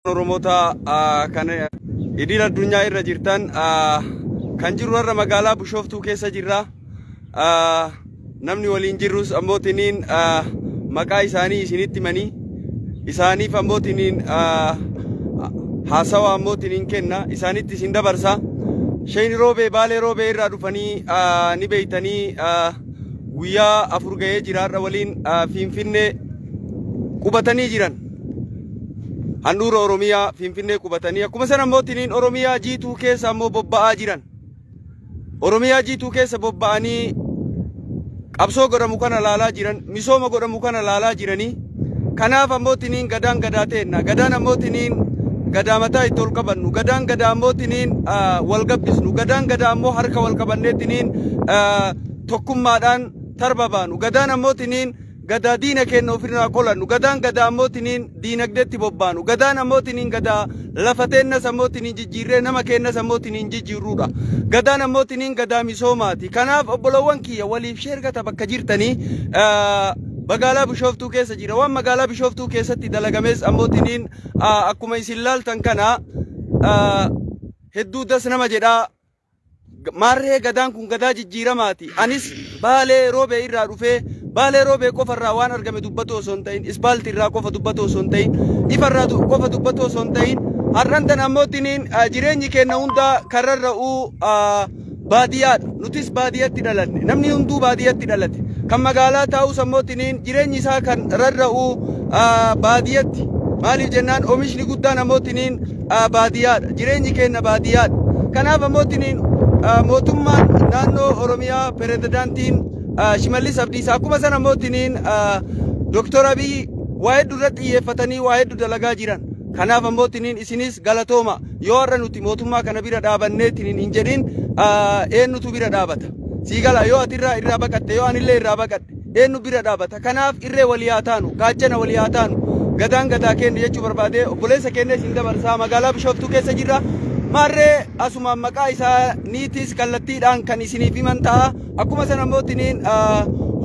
Oromoota kan idil addunyaa irra jirtan kan jirru irra magaalaa Bushooftuu keessa jirra. Namni waliin jirrus ammoo tiniin maqaa isaanii isinitti manii isaaniif ammoo tiniin haasawaa ammoo tiniin kenna isaanitti isin dabarsa. Shayni roobee baalee roobee irraa dhufanii ni beeytanii guyyaa afur ga'ee jiraarra waliin Finfinnee qubatanii jiran. handhuura Oromiyaa Finfinnee qubatanii akkuma sana immoo tiniin Oromiyaa jiituu keessa ammoo bobba'aa jiran. Oromiyaa jiituu keessa bobba'anii qabsoo godhamu kana laalaa jiran, misooma godhamu kana laalaa jiranii. Kanaaf ammoo tiniin gadaan gadaa teenna. Gadaan ammoo tiniin gadaa mataa itti ol qabannu. Gadaan gadaa ammoo tiniin wal gabbisnu. Gadaan gadaa ammoo harka wal qabannee tiniin tokkummaadhaan tarba baanu. Gadaan ammoo tiniin Gadaa diina keenna ofirraa qolannu, Gadaan Gadaa ammootiniin diinagdeetti bobbaanu, Gadaan ammootiniin Gadaa lafa teennas ammootiniin jijjiirree nama keennas ammootiniin jijjiirruudha. Gadaan ammootiniin Gadaa misoomaati. Kanaaf obbolowwan kiyya waliif share gata bakka jirtanii magaalaa Bishooftuu keessa jira. Waan magaalaa Bishooftuu keessatti dalagamees ammootiniin akkuma isin laaltan kana hedduu das nama jedhaa Maarree Gadaan kun Gadaa jijjiiramaati. Anis Baalee Roobee irraa dhufee Baalee Roobee qofa irraa waan argame dubbatuu osoo hin ta'in, ispaalti irraa qofa dubbatuu osoo hin ta'in, ifa irraa qofa dubbatuu osoo hin ta'in, har'an tan ammootiniin jireenyi keenna hundaa kan rarra'uu baadiyaadha. Nutis baadiyatti dhalanne. Namni hunduu baadiyatti dhalate. Kan magaalaa taa'us ammootiniin jireenyi isaa kan rarra'uu baadiyatti. Maaliif jennaan omishni guddaan ammootiniin ah, baadiyyaadha. Jireenyi keenya baadiyyaadha. Kanaaf ammoo tiniin ah, mootummaan naannoo Oromiyaa pirezidaantiin ah, Shimallis Abdiisaa akkuma sana ammoo tiniin ah, Dooktor Abiy waa hedduu irratti xiyyeeffatanii waa hedduu dalagaa jiran. Kanaaf ammoo tiniin isinis galatooma yoo har'a nuti mootummaa kana bira dhaabannee tiniin hin jedhin ah, eenyutu bira dhaabata. Sii gala yoo ati irraa irraa baqatte yoo anillee irraa baqadhe. Eennu bira dhaabata? Kanaaf irree walii haa taanu, gaachana walii haa taanu, Gadaan Gadaa keenna jechuu barbaadee obboleessa keenna isin dabarsaa magaalaa Bishooftuu keessa jirra. Maarree asumaan maqaa isaaniitiis kallattiidhaan kan isiniif himan ta'a. Akkuma sana immoo tiniin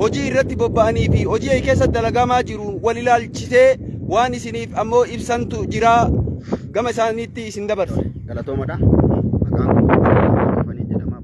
hojii irratti bobba'anii fi hojii ay keessa dalagamaa jiru wal ilaalchisee waan isiniif ammoo ibsantu jira. Gama isaaniitti isin dabarsa. Galatoomadha. Maqaan koo Fanii jedhama.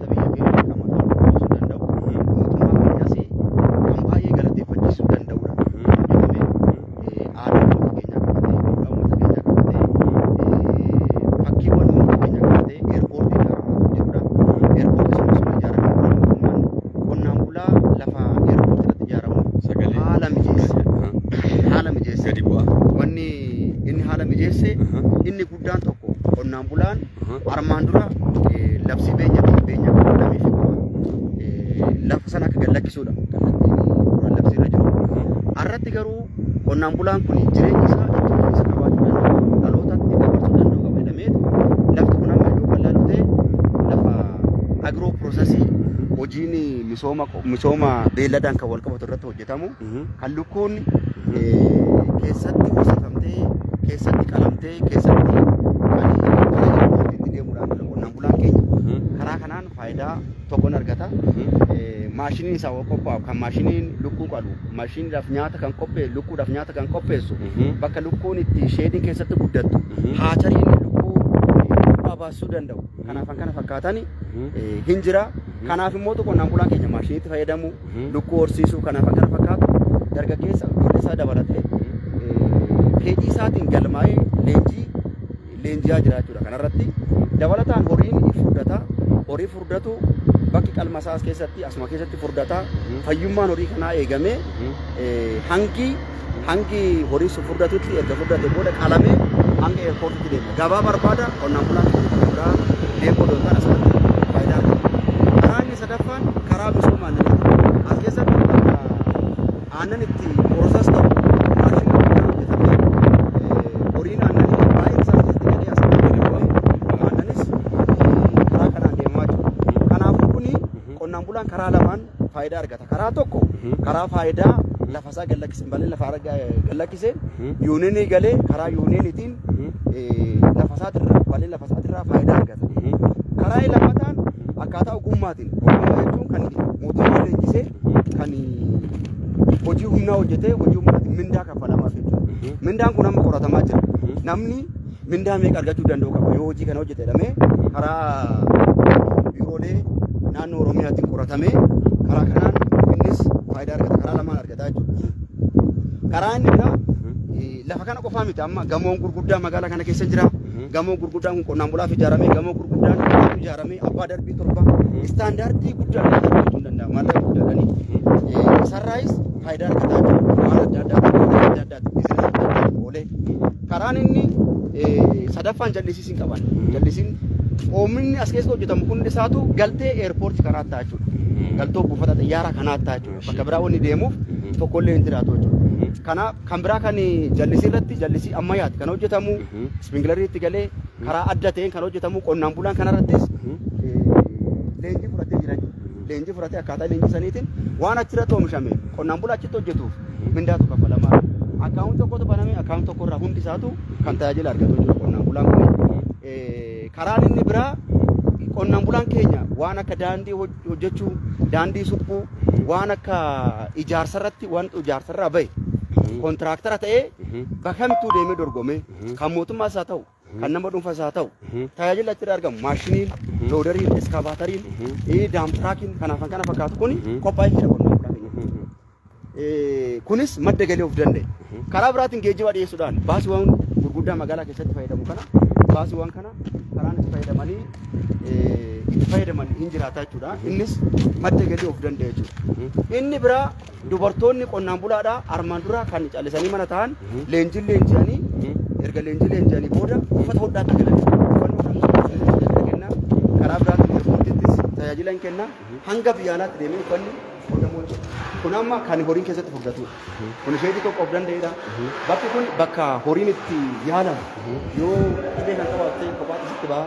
wanta biyya keenya dirqama kan qoodisuu danda'u mootummaa keenyas kan baay'ee galateeffachiisuu danda'udha. Jedhamee aadaa uummata keenyaa qabatee, duudhaa uummata keenyaa qabatee, fakkiiwwan uummata keenyaa qabatee eerpoortii ijaaramaa kan jirudha. Eerpoortii sun osoo ijaaramee booda mootummaan qonnaan bulaa lafa eerpoortii irratti ijaaramuuf Sagalee. haala mijeesse. Aha. Haala mijeesse. Gadi bu'aa. Wanni inni haala mijeesse Aha. inni guddaan tokko qonnaan bulaan armaan dura eh, labsii beenya fi beenya qabalamee fi qofa eh, lafa sana akka gallakkisuudha kallattiin duraan labsii irra jiru. Har'atti garuu qonnaan bulaan kun jireenya isaa itti fufiinsa qabaachuu danda'u dhalootatti dabarsuu danda'u qaba jedhamee lafti kun amma yoo bal'aa ta'e lafa agiroo piroosesii hojiin misooma misooma beelladaan kan wal qabatu irratti hojjetamu kan lukkuun keessatti horsiifamtee keessatti qalamtee keessatti itti deemuudhaan jira qonnaan bulaan keenya karaa kanaan faayidaa tokkon argata maashiniin isaa waan qophaa'u kan maashiniin lukkuu qalu maashiniidhaaf nyaata kan qopheessu lukkuudhaaf nyaata kan qopheessu bakka lukkuun itti sheedii keessatti guddattu haachariin lukkuu bu'aa baasuu danda'u kanaaf kan kana fakkaatan hin jira kanaaf immoo qonnaan bulaan keenya maashiniitti fayyadamu lukkuu horsiisuu kanaaf akka fakkaatu dargaggeessa ijoollee isaa dabalatee fedhii isaatiin galmaa'ee leenjii leenji'aa jira jechuudha. Kanarratti dabalataan horiin ni furdata. Horii furdatu bakki qalma isaas keessatti asuma keessatti furdata. Fayyummaan horii kanaa eegamee hangi Hangi horii sun furdatutti erga furdate booda qalamee hanga eerpoortitti deema. Gabaa barbaada qonnaan bulaan tokko tokko biraa deemuu odoo hin taane asirratti faayidaa argata. Karaa inni sadaffaan karaa misooma aannanii. As keessatti bakka aannan itti poroosas ta'u maashina guddaa hojjetamee eh, horiin aannanii baay'een isaa keessatti galee as keessatti deemuudhaan aannanis eh, karaa kanaan deemaa jiru. Kanaafuu kuni qonnaan bulaan karaa lamaan faayidaa argata. Karaa tokko karaa faayidaa lafa isaa gallakkiseen balee lafa ara- gallakkiseen yuuniinii galee karaa yuuniiniitiin eh, lafa isaatirraa balee lafa isaatirraa faayidaa argata. Karaa lammataan akkaataa ogummaatiin ogummaa jechuun kan mootummaa leenjisee kan hojii humnaa hojjetee hojii humnaatiin mindaa kaffalamaa jechuudha. Mindaan kun amma qoratamaa jira. Namni Mindaa meeqa argachuu danda'u qaba yoo hojii kana hojjete jedhamee karaa biiroolee naannoo Oromiyaatiin qoratamee karaa kanaan innis faayidaa argata karaa lamaan argata jechuudha. Karaa inni biraa eh, lafa kana qofaa miti amma gamoon gurguddaa magaalaa kana keessa jira. Gamoo gurguddaan kun qonnaan bulaaf ijaarame gamoo gurguddaan kun ijaarame abbaa darbii torba istaandaardii guddaa kan argachuu hin danda'amu maallaqa guddaadhani. Eh, Sarraayis faayidaa argataa jiru waan adda addaa adda addaa oolee karaan inni sadaffaan jallisiis hin qaban jallisiin oomishinni as keessa hojjetamu hundi isaatu galtee eerpoorti karaa ta'a jechuudha galtoo buufata xiyyaara kanaa ta'a jechuudha bakka biraa wanni deemuuf tokkollee hin jiraatu jechuudha. Kana kan biraa kan jallisii irratti jallisii ammayyaati kan hojjetamu ispingilarii itti galee karaa adda ta'een kan hojjetamu qonnaan bulaan kanarrattis leenjii fudhatee jira leenjii fudhatee akkaataa leenjii saniitiin waan achirratti oomishame qonnaan bulaa achitti hojjetuuf mindaatu kafalamaa akkaawun tokkotu baname akkaawun tokko irraa hundi isaatu kan tajaajila argatu jiru qonnaan bulaan kun karaan inni biraa qonnaan bulaan keenya waan akka daandii hojjechuu daandii suphuu waan akka ijaarsa irratti waan ijaarsa irraa bahe kontiraaktara ta'ee bakka kamittuu deemee dorgomee kan mootummaas haa ta'u kan nama dhuunfas haa ta'u tajaajila achirra argamu maashiniin loodariin iskaavaatariin daamtiraakiin kanaaf kan kana fakkaatu kun qophaa'ee jira qonnaan bulaa keenya. Eh, kunis madda galii of danda'e. Karaa biraatiin geejjiba dhiyeessuudhaan baasiiwwan gurguddaa magaalaa keessatti fayyadamu kana baasiiwwan kana karaan itti fayyadamanii eh, itti fayyadaman hin jiraata jechuudha. Innis madda galii of danda'e jechuudha. Inni biraa Dubartoonni qonnaan bulaadha armaan dura kan callisanii mana ta'an leenjiin leenji'anii erga leenjii leenji'anii booda uffata hodhaatti galan kenna karaa biraatiin eerpoortiittis tajaajila hin kenna hanga biyya alaatti deemee uffanni hodhamu jechuudha. Kun amma kan horiin keessatti furdatudha. Kun isheetii tokko of danda'edha. Bakki kun bakka horiin itti yaalamu yoo dhibee kan qabaatte kophaatti sitti ba'a.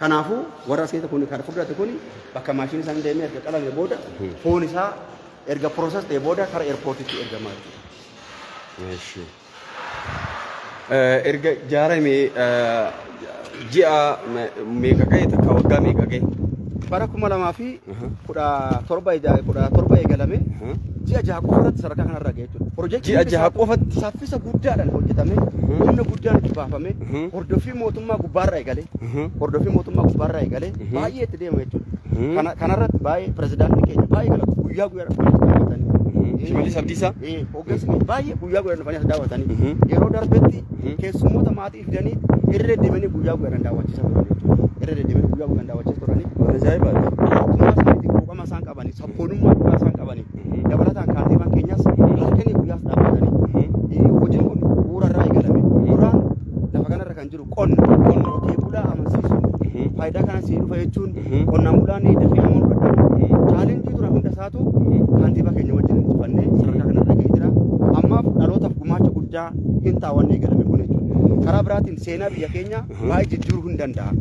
Kanaafuu warra seeta kun kan fudhate kun bakka maashinii isaan deemee erga qalame booda foon isaa erga process ta'e booda kara airportitti ergamaa jechuudha. Erga ijaarame ji'a meeqa ga'e takka waggaa meeqa ga'e? Bara kuma lamaa fi Aha. kudha torba ija- kudha torba eegalame Aha. ji'a jaha qofa irratti sadarkaa kanarra ga'e jechuudha. Pirojektiin Ji'a jaha isaa qofatti? saffisa guddaadhaan hojjetamee Mhm. humna guddaan itti baafame Mhm. hordoffii mootummaa gubbaarraa eegalee Aha. hordoffii mootummaa gubbaarraa eegalee Mhm. baay'ee itti deema jechuudha. Mhm. Kana kanarratti baay'ee pirezidaantii keenya baay'ee galata guyyaa guyyaadhaan baay'ee galata. Mhm. Shimallis Abdiisaa? Eh, Hoggansi baay'ee guyyaa guyyaa dhufanii as daawwatan. Yeroo darbetti keessummoota maatii fidanii irra deddeebi'anii guyyaa guyyaan daawwachiisaa turan jechuudha. Irra deddeebi'anii guyyaa guyyaan daawwachiisaa turanii Waan ajaa'ibaati. mootummaa isaaniitiin quuqama isaan qabanii sabboonummaa dhugaa isaan qabanii dabalataan kaantiibaan keenyas halkanii guyyaas dhaabbatanii hojiin kun bu'uura irraa eegalame duraan lafa kanarra kan jiru Qonna qonna qotee bulaa amansiisuun faayidaa kana sii dhufa jechuun qonnaan bulaan dafee nama hubadhu chaalenjii turan hunda isaatu kantiibaa keenya wajjin injifannee sadarkaa kana dhagee jira ammaaf dhalootaaf gumaacha guddaa hin taawwanne eegalame kun jechuudha karaa biraatiin seenaa biyya keenya baay'ee jijjiiruu hin danda'a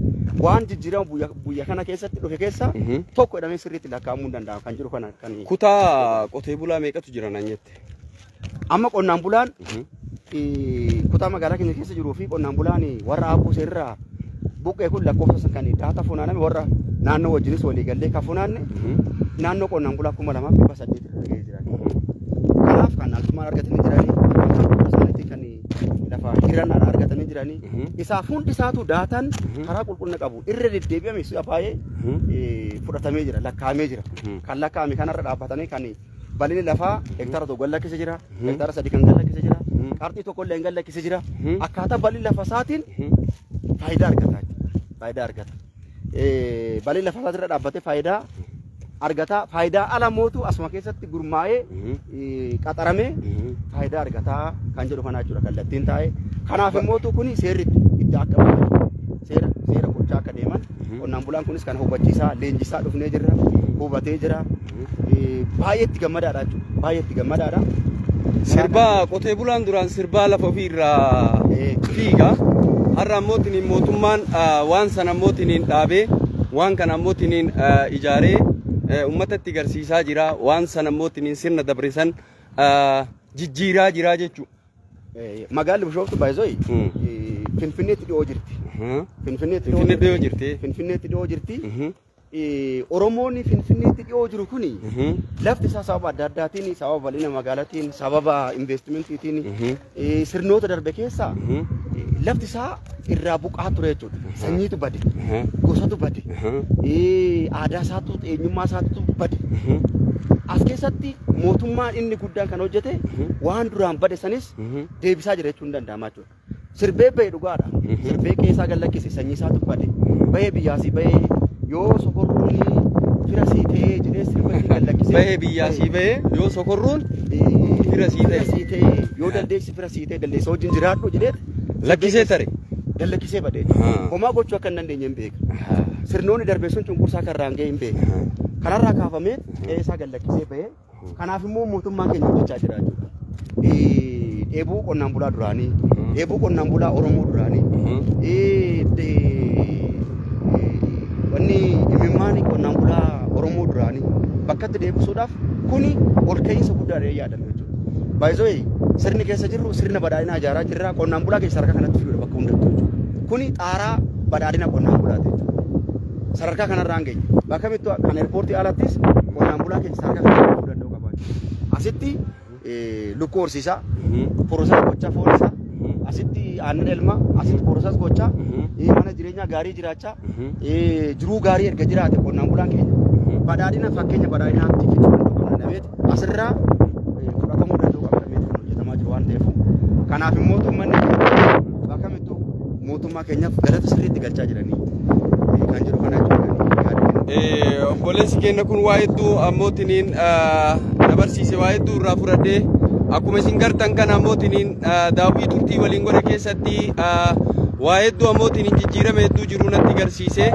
waan jijjiirama biyya- biyya kana keessatti dhufe keessa tokko jedhamee sirriitti lakkaa'amuu hin danda'amu kan jedhu kana kan Kutaa qotee bulaa meeqatu jira naan jette? Amma qonnaan bulaan eh, kutaa magaalaa keenya keessa jiruu fi qonnaan bulaan eh, warra aabbuu seerraa buqqee kun lakkoofsa san kan daata funaaname warra naannoo wajjinis walii gallee kan funaanne naannoo qonnaan bulaa kuma lamaaf dhibba saddeet irra ga'ee jira. Kanaaf kan altummaan argatanii jiranii akkaataa isaaniitiin kan lafa hiran argatanii jiranii isaaf hundi isaatu daataan karaa qulqullina qabu irra deddeebi'ame si'a baay'ee eh, fudhatamee jira lakkaa'amee jira. Kan lakkaa'ame kanarra dhaabbatanii kan bal'inni lafaa hektaara tokko galla keessa jira, hektaara sadii kan galla keessa jira, qarxii tokko illee galla keessa jira. Akkaataa bal'inni lafa isaatiin faayidaa argata jechuudha. Faayidaa argata. Eh, Bal'inni lafa isaatirra dhaabbatee faayidaa argata. Faayidaa ala mootu asuma keessatti gurmaa'ee eh, qaxaramee faayidaa argata kan jedhu kana jechuudha kallattiin taa'e. Kanaaf immoo kun seerri itti akka baafatu seera seera gochaa akka deeman Qonnaan bulaan kunis kana hubachiisaa leenjisaa dhufnee jirra hubatee jira baay'ee itti gammadaadha jechuudha baay'ee itti gammadaadha. Sirba qotee bulaan duraan sirbaa lafa ofii irraa fiiga har'a ammoo tiniin mootummaan waan sana ammoo tiniin dhaabee waan kana ammoo tiniin ijaaree uummata itti garsiisaa jira waan sana ammoo tiniin sirna dabrisan jijjiiraa jira jechuudha. Magaalli Bishooftu Baay'isooyi Finfinneetti dhiyoo jirti. Finfinneetti Finfinnee dhiyoo jirti. Finfinneetti dhiyoo jirti. Oromoonni Finfinneetti dhiyoo jiru kuni lafti isaa sababa adda addaatiin sababa bal'ina magaalatiin sababa investimentiitiin sirnoota darbe keessa lafti isaa irraa buqaa ture jechuudha. Sanyiitu bade, gosatu bade, aadaa isaatu, eenyummaa isaatu bade. As keessatti mootummaan inni guddaan kan hojjete waan duraan bade sanis deebisaa jira jechuun danda'ama jechuudha. Sirbee bahe dhugaadha. Sirbee keessaa gad lakkise sanyii isaatu bade. Bahee biyyaasii bahee yoo sokorruun fira sii ta'ee jedhee sirba itti gad lakkise. Bahee biyyaa sii bahee yoo sokorruun fira sii ta'e. Fira sii ta'ee yoo dandeessi fira sii ta'e dandeessa wajjin jiraadhu jedhee Lakkisee tare. Gallakkisee badee. Haa. Homaa gochuu akka hin dandeenye hin beeka. Haa. Sirnoonni darbee sun cunqursaa kan irraan ga'e hin beeka. Haa. Kanarraa kaafamee qe'ee isaa gallakkisee bahee kanaaf immoo mootummaan keenya hojjechaa jira jechuudha. Eh, Dheebuu qonnaan bulaa duraanii, Mhm. dheebuu qonnaan bulaa Oromoo duraanii, Mhm. eh, de- eh, wanni imimmaan qonnaan bulaa Oromoo duraanii bakkatti deebisuudhaaf kuni ol ka'iinsa guddaadha yaada. fayyadamu jechuudha. By the way, sirni keessa jirru sirna badhaadhinaa ijaaraa jirra. Qonnaan bulaa keessa harka kanatti fiduudha bakka hundattuu jechuudha. Kuni xaaraa badhaadhina qonnaan bulaati jechuudha. Sadarkaa kanarraan geenye. Bakka mittu kan eerpoortii alattis qonnaan bulaa keessa harka kanatti fiduu danda'u qaba jechuudha. Asitti eh, lukkuu horsiisaa, porosaa gochaa foon isaa, asitti aannan elmaa, asitti porosaas gochaa, eh, mana jireenyaa gaarii jiraachaa, eh, jiruu gaarii erga jiraate qonnaan bulaan keenya badhaadhina fakkeenya badhaadhinaatti fiduu danda'u qaba. asirraa fudhatamuu danda'u qaba damee kan hojjetamaa jiru waan ta'eef kanaaf immoo uummanni bakka mittu mootummaa keenyaaf galata sirriitti galchaa jiranii kan jiru kana jechuudha. Obboleessi keenya kun waa hedduu ammootiniin dabarsiise waa hedduu irraa fudhadhee akkuma isin gartan kana ammootiniin daawwii turtii waliin godhe keessatti waa hedduu ammootiniin jijjiirame hedduu jiru natti garsiise.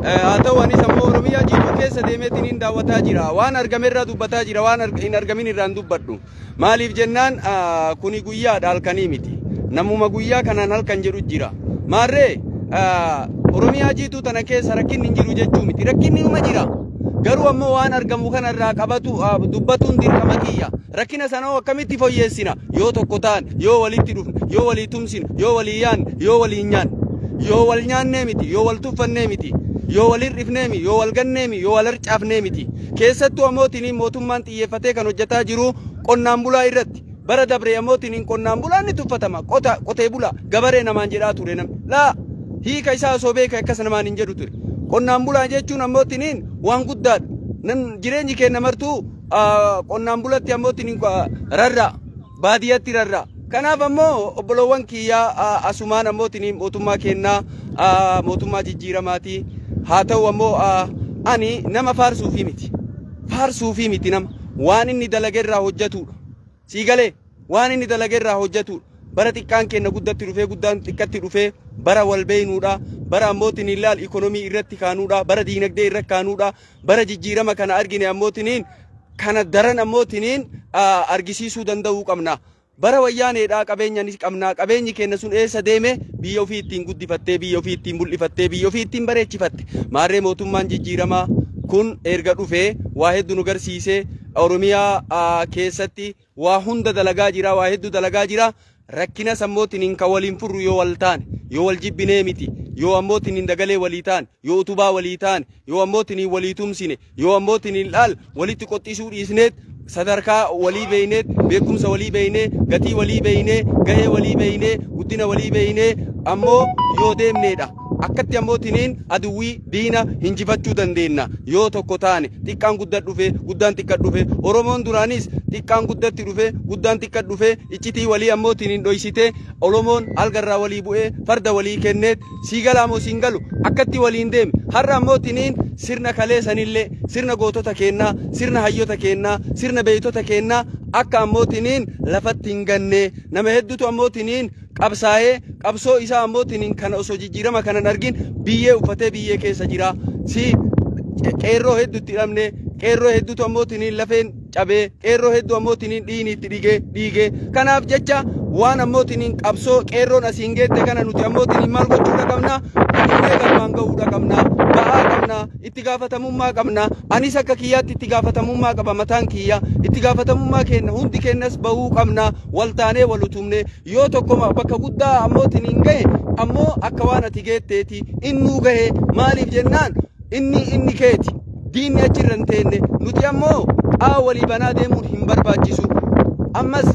Haa ta'u anis ammoo Oromiyaa jiidhuu keessa deemeetiin hin daawwataa jira. Waan argame irraa dubbataa jira. Waan hin argamin irraa hin dubbadhu. Maaliif jennaan kuni guyyaadha halkanii miti. Namuma guyyaa kanaan halkan jedhu jira. Maarree Oromiyaa jiituu tana keessa rakkinni hin jiru jechuu miti. Rakkinni uma jira. Garuu ammoo waan argamu kanarraa qabatu dubbatuun dirqama kiyya. Rakkina sana hoo akkamitti foyyeessina? Yoo tokko taane, yoo walitti dhufne, yoo walii tumsine, yoo walii yaanne, yoo walii nyaanne. Yoo wal nyaannee miti, yoo wal tuffannee miti, yoo wal hir'ifnee miti, yoo wal gannee miti, yoo wal harcaafnee miti. Keessattuu ammoo tiniin mootummaan xiyyeeffatee kan hojjetaa jiru qonnaan bulaa irratti. Bara dabree ammoo tiniin qonnaan bulaan ni tuffatama. Qota, qotee bulaa, gabaree namaan jedhaa ture namni. Laa, hiika isaa osoo beeka akkas namaan hin jedhu ture. Qonnaan bulaa jechuun ammoo tiniin waan guddaadha. Nan jireenyi keenya martuu qonnaan bulatti ammoo tini rarra'a baadiyyatti rarra'a. Kanaaf ammoo obboloowwan kiyyaa asumaan ammoo tini mootummaa kennaa mootummaa jijjiiramaati. Haa ta'u ammoo ani nama faarsuufii miti. Faarsuufii miti nama waan inni dalagerraa hojjetudha. Sii galee waan inni dalage irraa hojjatuudha. Bara xiqqaan keenna guddatti dhufee guddaan xiqqatti dhufee bara wal beeynuudha. Bara ammootiin hin laal ikonomii irratti kaanuudha. Bara diinagdee irra kaanuudha. Bara jijjiirama kana argine ammootiniin kana daran ammootiniin argisiisuu danda'uu qabna. Bara wayyaaneedhaa qabeenya ni qabna. Qabeenyi keenna sun eessa deeme biyya ofii ittiin guddifattee biyya ofii ittiin mul'ifattee biyya ofii ittiin bareechifatte. Maarree mootummaan jijjiiramaa kun erga dhufee waa hedduu nu garsiisee Oromiyaa keessatti waa hunda dalagaa jira, waa hedduu dalagaa jira. Rakkina sammootiin hin kan waliin furru yoo wal taane, yoo wal jibbinee miti, yoo ammootiin hin dagalee walii taane, yoo utubaa walii taane, yoo ammootiin hin walii tumsine, yoo ammootiin hin dhaal walitti qoxxisuu dhiisneet sadarkaa walii beeyneet beekumsa walii beeynee gatii walii beeynee gahee walii beeynee guddina walii beeynee ammoo yoo deemneedha. Akkatti ammootiin aduwwii Diina hinjifachuu dandeenna yoo tokko taane. Xiqqaan guddat dhufe, guddaan xiqqat dhufe. Oromoon duraanis xiqqaan guddatti dhufe, guddaan xiqqat dhufe. Iccitii walii ammoo tiniin dhoysitee Olomoon alga irraa walii bu'ee farda walii kenneet. Sii galaa moo siin galu? Akkatti waliin deeme. Har'a ammoo tiniin sirna kalee sanillee, sirna gootota keennaa, sirna hayyota keennaa, sirna beeytota keennaa akka ammoo tiniin lafatti hingannee. Nama heddutu ammoo tiniin qabsaa'ee qabsoo isaa ammootiin kana osoo jijjiirama kana hin argin biyyee uffatee biyyee keessa jira. Si qeerroo hedduutti hidhamne qeerroo hedduutu ammootiin lafeen cabee qeerroo hedduu ammootiin dhiigni itti dhigee dhiigee kanaaf jecha waan ammootiin qabsoo qeerroon asiin geette kana nuti ammootiin maal gochuudha qabna? Hidhamnee galmaan ga'uudha qabna. Ba'aa qabna. itti gaafatamummaa qabna anis akka kiyyaatti itti gaafatamummaa qaba mataan kiyya itti gaafatamummaa keenna hundi keennas bahuu qabna wal taanee wal utumne yoo tokkoma bakka guddaa ammootiin hin gahe ammoo akka waan ati geetteeti innuu gahe maaliif jennaan inni inni keeti diinni achi irra hin teenne nuti ammoo qaa walii banaa deemuun hin barbaachisu ammas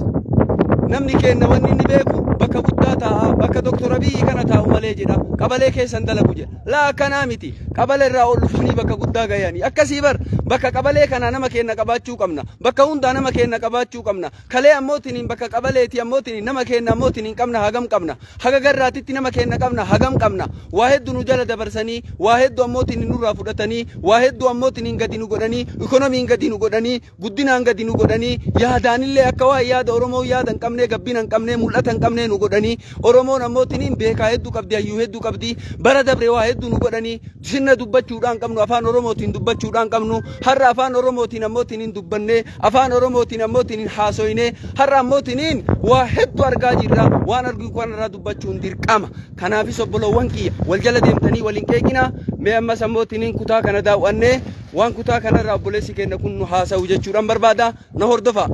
namni keenna wanni inni beeku bakka guddaa taa'a bakka doktor abiyyi kana taa'u malee jedha qabalee keessan dalagu jedha Laa akkanaa miti. Qabalee irraa ol dhufanii bakka guddaa gayanii. Akkasii bar bakka qabalee kanaa nama keenna qabaachuu qabna. Bakka hundaa nama keenna qabaachuu qabna. Kalee ammoo tiniin bakka qabaleeti ammoo tiniin nama keenna ammoo tiniin qabna hagam qabna. Haga garraatitti nama keenna qabna hagam qabna. Waa heddu nu jala dabarsanii waa heddu ammoo tiniin nurraa fudhatanii waa heddu ammoo tiniin gadi nu godhanii ikonomiin gadi nu godhanii guddinaan gadi nu godhanii yaadaanillee akka waan yaada Oromoo yaada hin qabnee gabbina hin qabnee mul'ata hin qabnee nu godhanii Oromoon ammoo tiniin beekaa hedduu qabdi hayyuu hedduu qabdi bara dabre waa hedduu nu godhanii sinna dubbachuudhaan qabnu afaan Oromootiin dubbachuudhaan qabnu har'a afaan Oromootiin ammoo tiniin dubbannee afaan Oromootiin ammoo tiniin haasoynee har'a ammoo tiniin waa hedduu argaa jirra waan arginu kanarraa dubbachuun dirqama kanaafis obbolowwan kiyya wal jala deemtanii waliin qeeqinaa mee ammas ammoo tiniin kutaa kana daaw'annee Waan kutaa kanarraa obboleessi keenya kun nu haasa'u jechuudhaan barbaada. Na hordofaa.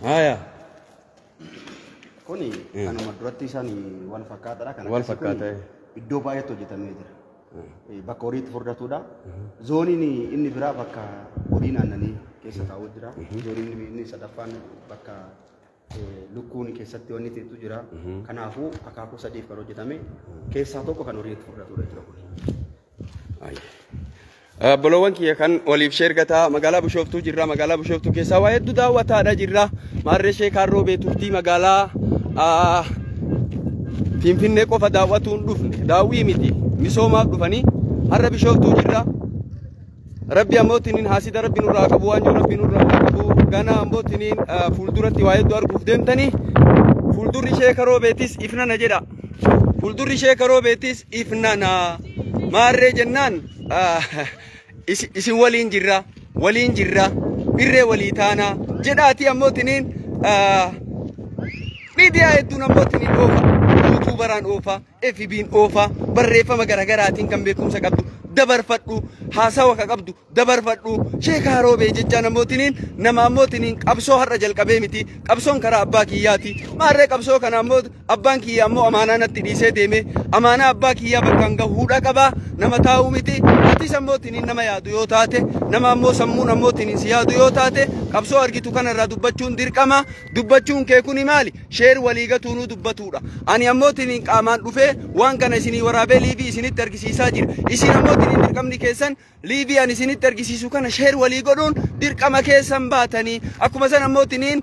Haaya. Kuni kanuma duratti isaan wal fakkaataadha. Kan Wal akkasii kun fakkaata, eh. Iddoo baay'eetti hojjetamee jira. Eh, Bakka horii itti furdatudha. Zooniin inni biraa bakka horii naannanii keessa taa'u jira. Zooniin inni sadaffaan bakka lukkuun keessatti wanni xixiqqoo jira. Kanaafuu akaakuu sadiif kan hojjetame keessaa tokko kan horii itti fudhatudha jechuudha kun. Obboloowwan kiyya kan waliif sheer gataa magaalaa Bishooftuu jirra magaalaa Bishooftuu keessaa waa hedduu daawwataadha jirra maarree ishee kaarroo beeturtii magaalaa ah, Finfinnee qofa daawwatuun dhufne daawwii miti misoomaaf dhufanii har'a Bishooftuu jirra Rabbi ammoo tiniin haasida rabbi nurraa haa qabu waan jiru rabbi nurraa haa qabu ganaa ammoo tiniin ah, fuulduratti waa hedduu arguuf deemtanii fuuldurri ishee karoo beetis ifnana jedha fuuldurri ishee karoo beetis ifnana maarree jennaan ah, isi- isin waliin jirra waliin jirra irree walii taana jedhaatii ammoo tiniin ah, miidiyaa hedduun ammoo tiniin oofa yuutuubaraan oofa FBn oofaa barreeffama garagaraatiin kan beekumsa qabdu dabarfadhu haasawa ka qabdu dabarfadhu sheeka haroobee jechaa namootiniin nama ammootiniin qabsoo har'a jalqabee miti qabsoon karaa abbaa kiyyaati maarree qabsoo kana ammoo abbaan kiyya ammoo amaanaa natti dhiisee deeme amaanaa abbaa kiyyaa bakkaan gahuudha qaba nama taa'uu miti atis ammootiniin nama yaadu yoo taate nama ammoo sammuun ammootiniin si yaadu yoo taate qabsoo argitu kanarraa dubbachuun dirqama Dubbachuun kee kuni maali? Sheer walii gatuunuu dubbatuudha. Ani ammoo tiniin qaamaan dhufee waan kana isinii waraabee liivii isinitti argisiisaa jira. Isin ammoo tiniin dirqamni keessan liivii ani isinitti argisiisu kana sheer walii godhuun dirqama keessan baatanii. Akkuma san ammoo tiniin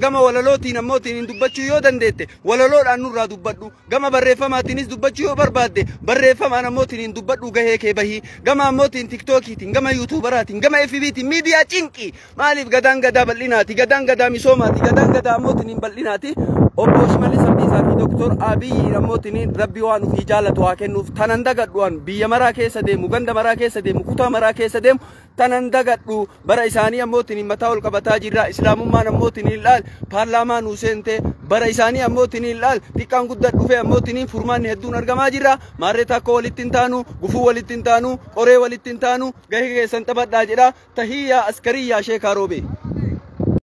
gama walalootiin ammoo tiniin dubbachuu yoo dandeette walaloodhaan nurraa dubbadhu. Gama barreeffamaatiinis dubbachuu yoo barbaadde barreeffamaan ammoo tiniin dubbadhu gahee kee bahii. Gama ammoo tiin tiktookiitiin, gama yuutuubaraatiin, gama FBtiin miidiyaa cinqii. Maaliif gadaan gadaa bal'inaati? Gadaan gadaa misoomaati. Gadaan gadaa ammoo tiniin bal'inaati. Obbo Shimallis Abdiisaa fi Dooktor Abiyyi ammoo tiniin rabbi waan ofii jaalatu haa kennuuf tanan dagadhu'an biyya maraa keessa deemu, ganda maraa keessa deemu, kutaa maraa keessa deemu tanan dagadhu bara isaanii ammoo tiniin mataa ol qabataa jirra. Islaamummaan ammoo tiniin laal paarlaamaa nuu seente bara isaanii ammoo tiniin laal xiqqaan guddaa dhufee ammoo tiniin furmaanni hedduun argamaa jirra. Maarree takkoo walitti hin taanu, gufuu walitti hin taanu, qoree walitti hin taanu. gahi keessan taphadhaa jedha tahiyyaa askariyyaa sheekaa roobee.